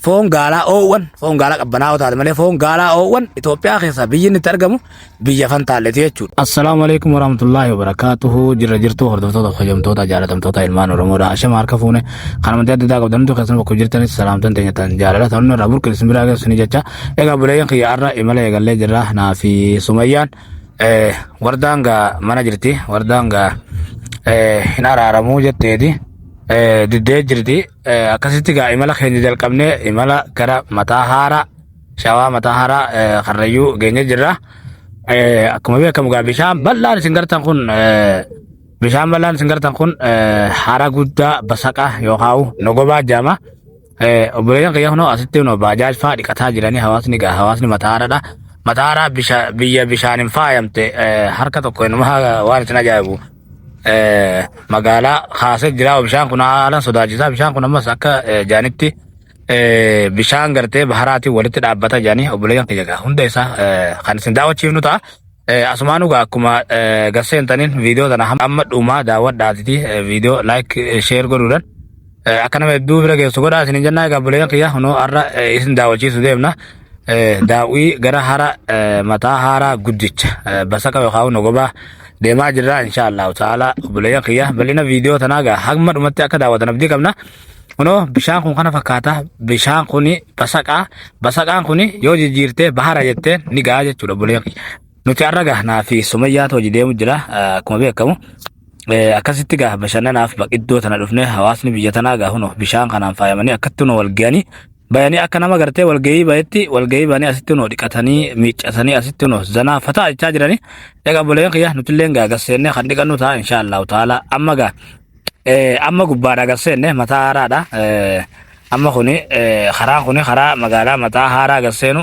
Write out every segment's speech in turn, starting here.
foon gaalaa oowwan foon gaalaa qabbanaa'oo taate malee foon gaalaa oowwan Itoophiyaa keessaa biyyi inni itti argamu biyya fantaalleeti jechuudha. Assalaamu alaikum warahmatullaahi wabarakaatuhu jirra jirtuu hordoftoota kabajamtoota jaalatamtoota ilmaan Oromoodha ashama harka fuune kan amantii adda addaa qabdan hundi keessan bakka jirtanis salaamtan teenya tan jaalala ta'an irraa burqe isin biraa geessu ni jecha egaa buleeyyan kiyya har'a imala eegallee jirra naa fi sumayyaan eh, wardaan gaa mana jirti wardaan gaa eh, hin araaramuu jetteeti eh, diddee jirti Eh, akkasitti gaa imala keenya jalqabnee imala gara mataa haaraa shawaa mataa haaraa eh, karrayyuu geenye jirra. Eh, Akkuma beekamu gaa bishaan bal'aan isin gartan kun eh, bishaan bal'aan isin gartan kun eh, hara guddaa basaqa yookaan nogobaa jaama. Eh, Obboleeyyan kiyya kunoo asitti kunoo baajaaj fa'aa dhiqataa jiranii hawaasni gaa hawaasni mataa haaraadha. Mataa haaraa bisha- biyya bishaaniin faayamte eh, harka tokko inuma waan isin ajaa'ibu. eh, magaalaa kaasee jira bishaan kun haalan sodaachisaa bishaan kun ammas akka eh, jaanitti eh, bishaan gartee baharaatiin walitti dhaabbata jaanii obboleeyyan kiyya gaa hunda isaa eh, kan isin daawwachiifnu ta'a. Eh, Asumaan dhugaa akkuma eh, garseen taniin viidiyoo tana hamma amma dhumaa daawwadhaatiti eh, viidiyoo like eh, share godhuudhaan Akka nama hedduu bira geessu godhaa isin jennaa egaa buleen kiyya kunoo har'a isin daawwachiisu deemna. Daawwii gara hara mataa haaraa guddicha basaka yookaan nogobaa deemaa jirra insha Allahu ta'ala buleen kiyya bal'ina viidiyoo tanaa egaa hamma dhumatti akka daawwatan abdii qabna. Kunoo bishaan kun kana fakkaata bishaan kuni basaqaa basaqaan kuni yoo jijjiirtee bahara jettee ni gahaa jechuudha buleen kiyya. Nuti har'a gahnaa fi sumayyaatu hojii deemu jira akkuma beekamu. Eh, akkasitti gaa bashannanaaf baq- iddoo tana dhufne hawaasni biyya tanaa gaa huno bishaan kanaan faayamanii akkatti huno walga'anii bayanii akka nama gartee walga'ii bayetti walga'ii banii asitti huno dhiqatanii miiccatanii asitti huno zanaa fataa jechaa jiranii egaa boleen kiyya nutilleen gaa gasseennee kan dhiqannu ta'a inshaallahu ta'ala amma gaa eh, amma gubbaadha gasseenne mataa haaraadha eh, Amma kuni karaan kuni karaa magaalaa mataa haaraa gad seenu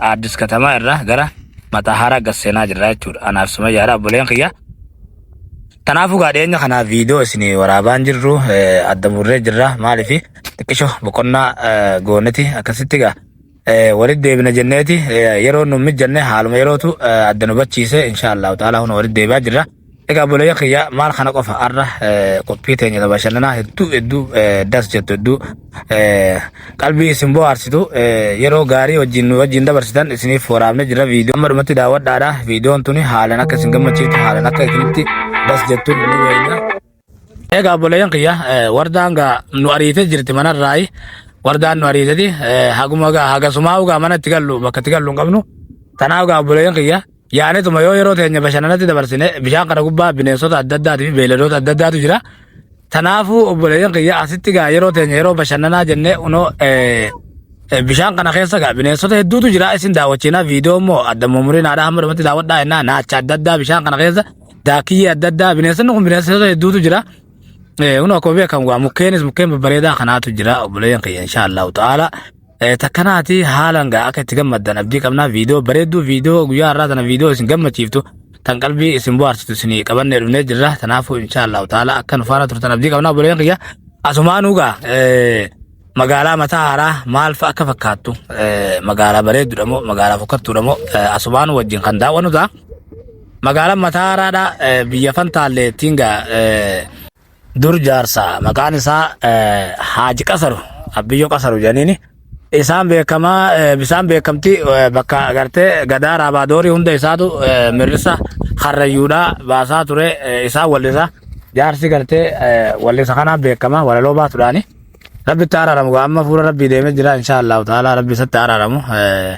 Addis Katamaa irraa gara mataa haaraa gad seenaa jirra jechuudha. Anaaf sumayyaadha obboleen kiyya. Kanaafuu gaa dhiyeenya kanaaf viidiyoo isin waraabaan jirru adda murree jirra maaliif xiqqisho boqonnaa gooneti akkasitti gaa Walitti deebina jenneeti yeroo nu mijanne haaluma yerootu adda nu bachiise insha Allahu ta'ala huna walitti deebi'aa jirra. Egaa obboleeyya kiyya maal kana qofa har'a qophii teenya ta bashannanaa hedduu hedduu das jettu hedduu qalbii isin bohaarsitu yeroo gaarii wajjin nu wajjin dabarsitan isiniif waraabne jirra viidiyoo amma dhumatti daawwadhaadha viidiyoon tuni haalan akka isin gammachiiftu haalan akka isinitti das jettu ni wayna. Egaa obboleeyyan kiyya wardaan gaa nu ariitee jirti manarraayi. Wardaan nu ariiteti haguma gaa hagasumaa ugaa mana itti gallu bakka itti gallu hin qabnu. Kanaaf gaa obboleeyyan kiyya yaanetuma yoo yeroo teenya bashannanatti dabarsine bishaan kana gubbaa bineensota adda addaatii fi beeyladoota adda addaatu jira. Kanaafuu obboleeyyan kiyya asitti gaa yeroo teenya yeroo bashannanaa jennee unoo bishaan kana keessa gaa bineensota hedduutu jira isin daawwachiinaa viidiyoo immoo adda mummuriin haadha hamma dhumatti daawwadhaa jennaa naacha adda addaa bishaan kana keessa daakiyyee adda addaa bineensonni kun bineensota hedduutu jira. Kun akkuma beekamu waa mukkeenis mukkeen babbareedaa kanaatu jira obboleeyyan kiyya insha Allahu ta'ala. Takkanaati haalan gaa akka itti gammaddan abdii qabnaa viidiyoo bareedduu viidiyoo guyyaa har'aa tana viidiyoo isin gammachiiftu tan qalbii isin bohaarsitu isin qabannee dhufnee jirra tanaafuu insha Allahu ta'ala akka nu faana turtan abdii qabnaa obboleeyyan kiyya asumaanuu gaa Magaalaa mataa haaraa maal fa'a akka fakkaattu eh, magaalaa bareeddudha moo magaalaa fokkattuudha moo eh, asumaan wajjin kan daawwannu ta'a. Magaalaan mataa haaraadha eh, biyya fantaallee ittiin gaa eh, dur jaarsa maqaan isaa eh, Haaji Qasaru Abbiyyoo Qasaru jedhaniini. Isaan beekamaa eh, bisaan beekamti eh, bakka agartee gadaa raabaadoori hunda isaatu eh, mirrisa harrayyuudhaa baasaa ture eh, isaan wallisa. Jaarsi gartee eh, wallisa kanaan beekama walaloo baatudhaani. Rabbitti araaramu gaa amma fuula rabbii deemee jira insha allahu ta'ala rabbi isatti araaramu Eh,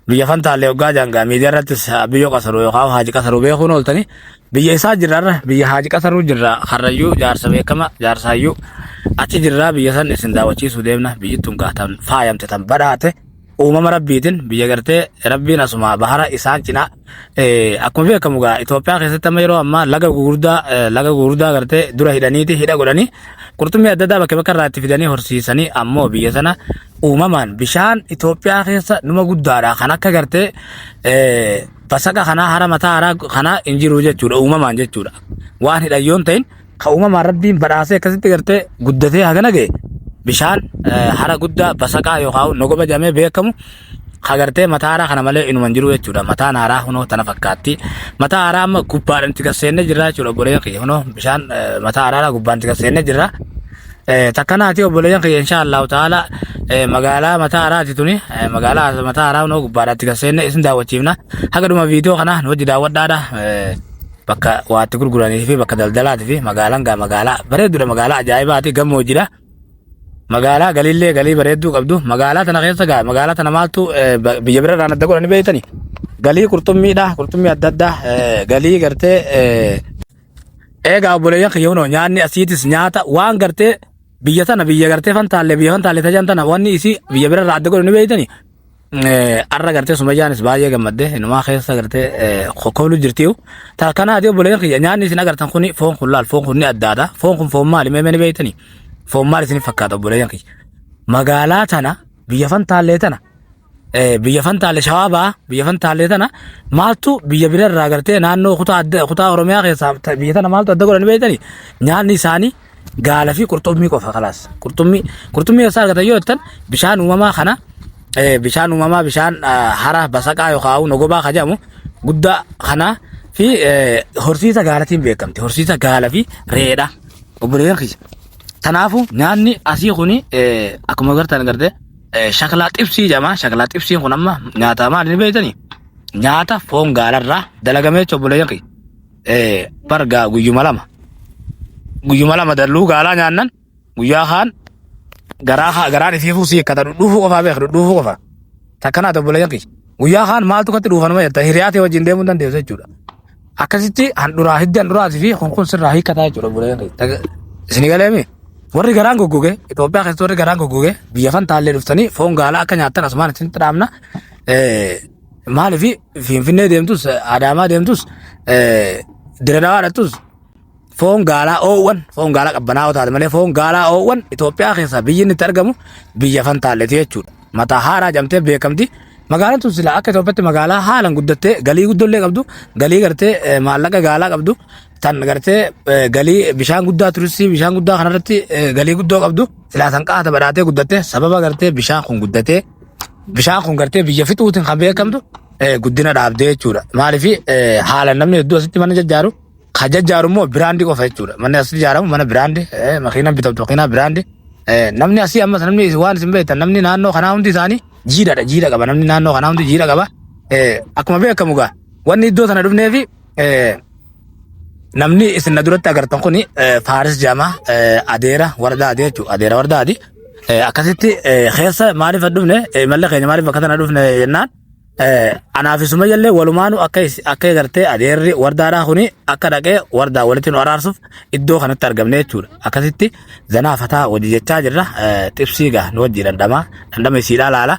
biyya fantaallee hoggaa jangaa miidiyaa irrattis ah, biyyoo qasaruu yookaan haaji qasaruu beekuun ooltanii biyya isaa jirra irra biyya haaji qasaruu jirra karrayyuu jaarsa beekama jaarsa hayyuu achi jirra biyya san isin daawwachiisuu deemna biyyittuun gaatan faayamte tan badhaate uumama rabbiitiin biyya gartee rabbiin asuma bahara isaan cina akkuma beekamu gaa Itoophiyaa keessatti amma yeroo ammaa laga gurguddaa laga gurguddaa gartee dura hidhaniiti hidha godhanii qurxummii adda addaa bakka bakka irraa itti fidanii horsiisanii ammoo biyya sana uumamaan bishaan Itoophiyaa keessa numa guddaadha kan akka gartee basaqa kanaa hara mataa haraa kanaa hin jiru jechuudha uumamaan jechuudha waan hidhan yoon ta'in Ka uumamaan rabbiin badhaasee akkasitti gartee guddatee hagana ga'e bishaan eh, hara guddaa basaqaa yookaan nogoba jedhamee beekamu ka gartee mataa haaraa kana malee inuman jiru jechuudha. Mataan haaraa hunoo tana fakkaatti. Mataa haaraa amma gubbaadhaan itti gasseennee jirra jechuudha obboleeyyan kiyya. Hunoo bishaan eh, mataa haaraa gubbaan itti gasseennee jirra. Eh, takkanaati obboleeyyan kiyya insha Allahu ta'ala eh, magaalaa mataa haaraati tuni eh, magaalaa mataa haaraa hunoo gubbaadhaatti gasseenne isin daawwachiifna haga dhuma viidiyoo kana nu wajji daawwadhaadha eh, bakka waa itti gurguranii fi bakka daldalaati fi magaalaan gaa magaalaa bareedduudha magaalaa ajaa'ibaati gammoojjidha. Magaalaa galiillee galii bareedduu qabdu magaalaa tana keessa gaa magaalaa tana maaltu eh, ba- biyya bira irraan adda godhanii beektani. Galii qurxummiidha qurxummii adda addaa eh, galii gartee eh, eegaa obboleeyyan kiyya hunoo nyaanni asiitis nyaata waan gartee biyya tana biyya gartee fantaallee biyya fantaallee tajan tana wanni isii biyya bira irraa adda godhanii beektani. Arra gartee sumayyaanis baay'ee gammadde inumaa keessa gartee koolu jirtiyu. Taa kanaati obboleeyyan kiyya nyaanni isin agartan kuni foon kun laal foon kun ni addaadha. Foon kun foon maali mee ni beektani? Foon maali isin fakkaata obboleeyyan kiyya? Magaalaa tana biyya fantaallee tana biyya fantaallee shawaa ba'a biyya fantaallee tana maaltu biyya bira irraa gartee naannoo kutaa adda kutaa Oromiyaa keessaa biyya tana maaltu adda godhani beektani? Nyaanni isaanii gaala fi qurxummii qofa kalaas qurxummii qurxummii eessaa argatan yoo jettan bishaan uumamaa kana eh, bishaan uumamaa bishaan ah, hara basaqaa yookaan hawuu nogobaa ka jedhamu guddaa kana fi eh, horsiisa gaalatiin beekamti horsiisa gaala fi reedha obboleeyyan kiyya Tanaafu nyaanni asii kuni eh, akkuma agartan garte eh, shaklaa xibsii jedhama. Shaklaa xibsiin kun amma nyaata maali ni beektani? Nyaata foon gaalarraa dalagamee jechuudha obboleeyyan kiyya. Eh, bar gaa guyyuma lama guyyuma lama dalluu gaalaa nyaannan guyyaa kaan garaa haa garaan isii fuusii akkata dhudhuufuu qofaa beeka dhudhuufuu qofaa takkanaa tobbila yakki guyyaa kaan maaltu katti dhuufanuma jetta hiriyaatee wajjin deemuu hin dandeessu jechuudha akkasitti handhuraa hiddi handhuraati fi kun kun sirraa hiikkataa jechuudha bulee yakki isinii galeemi warri garaan goggoge Itoophiyaa keessatti warri garaan goggoge biyya fan taallee dhuftanii foon gaalaa akka nyaattan asumaan isin dhaamna Eh, Maaliif Finfinnee deemtus, Adaamaa deemtus, Diradawaa dhaqxus foon gaalaa oowwan, foon gaalaa qabbanaa'oo taate malee foon gaalaa oowwan Itoophiyaa keessaa biyyi inni itti argamu biyya Fantaalleeti jechuudha. Mataa haaraa jamtee beekamti. Magaalaan tun silaa akka Itoophiyaatti magaalaa haalaan guddattee galii guddollee qabdu, galii gartee eh, maallaqa gaalaa qabdu, tan gartee eh, galii bishaan guddaa turistii bishaan guddaa kanarratti eh, galii guddoo qabdu silaa san qaata badhaatee guddattee sababa gartee bishaan kun guddatee bishaan kun gartee biyya fixuutiin kan beekamtu eh, guddina dhaabdee jechuudha. Maaliif haala namni hedduu asitti mana jajjaaru kan jajjaaru immoo biraandii qofa jechuudha. Manni asitti ijaaramu mana biraandii eh, makiinaan bitamtu makiinaa biraandii. Eh, Namni asii ammas namni waan isin beektan namni naannoo kanaa hundi isaanii jiidhadha jiidha qaba namni naannoo kanaa hundi jiidha qaba. Eh, Akkuma beekamu gaa wanni iddoo sana dhufneefi eh, Namni isin na duratti agartan kun Faaris Jama adeera warda adee jechuudha. Adeera warda adii. Akkasitti keessa maaliif dhufne malla keenya maaliif bakka tana dhufne jennaan anaa fi Sumayya illee walumaanu akka akka eegartee adeerri wardaadhaa kuni akka dhaqee wardaa walitti nu araarsuuf iddoo kanatti argamne jechuudha. Akkasitti zanaa fataa hojii jechaa jirra. Xibsii gaa nu wajjii dhandhamaa dhandhama isiidhaa laala.